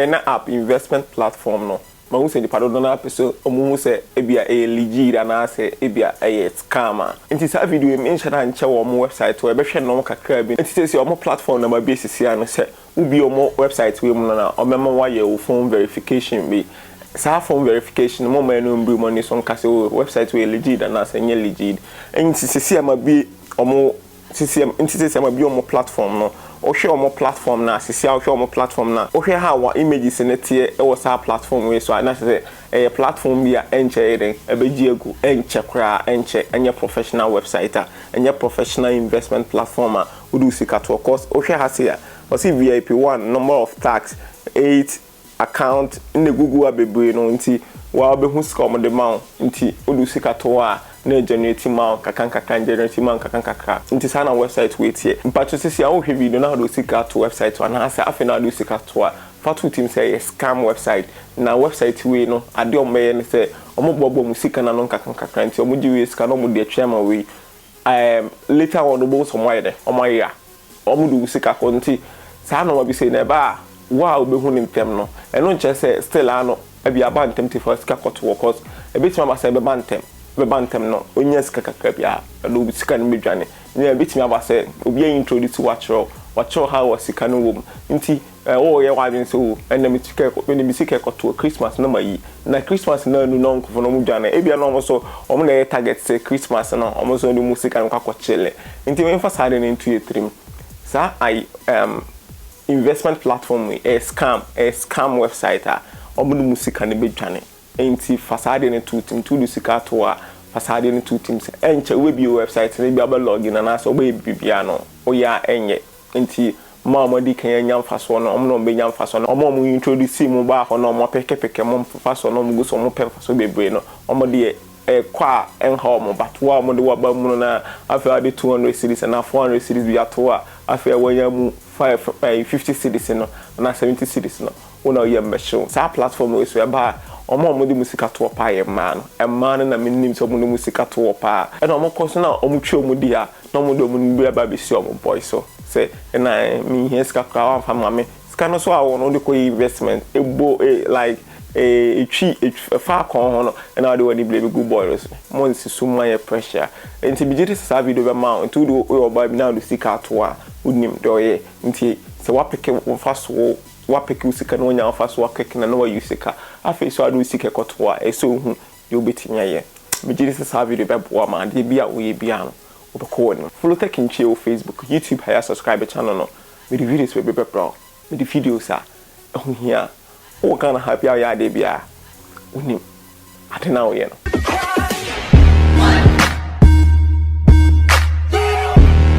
ɛna app investment platform no ma wohu sɛ nnipa dodoɔ no ara pɛ sɛ wɔhu sɛ ebia ɛyɛ legit anaasɛ ebia ɛyɛ scam a. Enti saa video yi menhyɛ da nkyɛ wɔ wɔn website hɔ, ɛbɛhwɛ nnɔn kakraa bi. Enti seesei wɔn platform na mabue sisi ara no, sɛ wobue wɔn website wei mu no na wɔbɛma woayɛ wo phone verification bi. Saa phone verification no momma ɛno mmiri mo ani so nka sɛ oh website wei yɛ legit anaasɛ ɛnyɛ legit. Enti seesei a mabue wɔn Sisi nti sɛ sɛ ma bi ɔmo platform no wohwɛ ɔmo platform no a sisi a wohwɛ ɔmo platform no a wohwɛ how a images no teɛ wɔ saa platform wei so a na kyerɛ sɛ ɛyɛ platform bi a ɛnkyɛ ɛyɛ dɛn ɛbɛgye agu ɛnkyɛ koraa ɛnkyɛ ɛnyɛ professional website a ɛnyɛ professional investment platform a wode wo sika toɔ cause wohwɛ ha sei a ɔse vip one number of tax eight account na egugu a bebree no ntsi woara wobɛhu sika a wɔde ma wo ntsi wode wo sika to hɔ a na ɛgenerate ma wo nkakrankakra ɛgenerate ma wo nkakrankakra ntsi saa na website wei tseɛ. Mpakyɛw sisi a wohwɛ video no na wode wo sika ato website hɔ anaasɛ afei na wode wo sika to a fa to wo tirim sɛ ɛyɛ scam website na website wei no adeɛ a wɔbɛyɛ ne sɛ wɔbɔbɔ mo sika no ano nkakrankakra ntsi wɔgye wei sika na wɔde atwɛn ama wei Ehm later on wobɛhu sɛ ɔmo ayɛ dɛn? Ɔmo ayera. Ɔmo de wo sika kɔ nti saa nnoɔma bi sei no ɛba a wo a wobɛhu no ntɛm no ɛno nkyerɛ sɛ still ara no ɛbi aba ntɛm nti fa wo sika kɔto hɔ cause ɛbɛtumi aba sɛ ɛbɛba ntɛm ɛbɛba ntɛm no wonya sika kakra bi a ɛno wo sika no bɛdwane na ɛbɛtumi aba sɛ obi a introduce wo akyerɛ wo wakyerɛ wo how a sika no wɔ mu nti Eh wo yɛ w'adwen sɛ oh ɛnɛ me sika ɛkɔ mede me sika ɛkɔtoɔ Christmas no mayi na Christmas no anu na ɔnkofo no ɔmo dwane ebia na ɔmo nso ɔmo na ɛyɛ target sɛ Christmas no ɔmo nso ɔmo de ɔmo sika no kɔ akɔ kyele nti menfa saa ade no nto yɛ tirim saa ai ehm investment platform yi ɛyɛ scam ɛyɛ scam website a ɔmo de ɔmo sika no bɛdwane nti fa saa ade no to wo tirim nti wode sika ato hɔ a fa saa ade no to wo tirim sɛ ɛnkyɛ wobɛbie website no ebia wobɛ log in anaasɛ wobɛyɛ biribiara no woyɛ a ɛnyɛ Nti mo a moadi kan anya mfasoɔ no, ɔmo na ɔmo bɛnya mfasoɔ no. Ɔmo a ɔmo introduce mo baa hɔ na ɔmo apɛkɛpɛkɛ mo mfasoɔ na ɔmo gu so ɔmo pɛ mfasoɔ bebree no, ɔmo deɛ ɛkɔ a ɛnha ɔmo but wo a ɔmo de wo aba mu no na afei wode two hundred cedis anaa four hundred cedis bi ato hɔ a afei a wanya mu five ɛɛ fifty cedis no anaa seventy cedis no Wo na woyɛ mmɛhye wo. Saa platform wei so ɛba a, wɔn a wɔde wɔn sika toɔ paa yɛ mmaa no. Mmaa no na menim sɛ wɔn de wɔn sika toɔ paa. Ɛna wɔkɔ so na wɔtwe wɔn di a, na wɔde wɔn no bi aba abɛsi wɔn boy so sɛ, ɛna ɛɛ, menhia sika koraa woamfa amma me. Sika no nso a wɔwɔ no wode kɔyɛ investment. Ɛbɔ e, like, e, ɛtwi, ɛtwi, ɛfa akɔn ho no, ɛna wode w'ani blame gu boy no so. Monnsi so mma nyɛ pressure. Nti megye di sɛ saa video bɛma wo. Nti wode, woyɛ ɔbaa bi na wode sika ato a, wonim deɛ ɔyɛ. Nti sɛ woapeke wo mfasoɔ o, Woapeke wo sika na woanya wo fa so akɛke na na woayi wo sika. Afei so a wode wo sika rekɔtow a, ɛsɛ sɛ wuhu nea wubetumi ayɛ. Megye di sɛ saa video yi bɛboa ma adeɛ biara a woyɛ biara no, wobɛkɔ w'anim. Follow Tech Nkyia wɔ Facebook, YouTube ha yi a subscribe channel no. Mede videos bebree bɛbrɛ wo. Mede videos a ɛho hia. Wowɔ Ghana ha biara a woyɛ adeɛ biara a, wonim ade no a woyɛ no.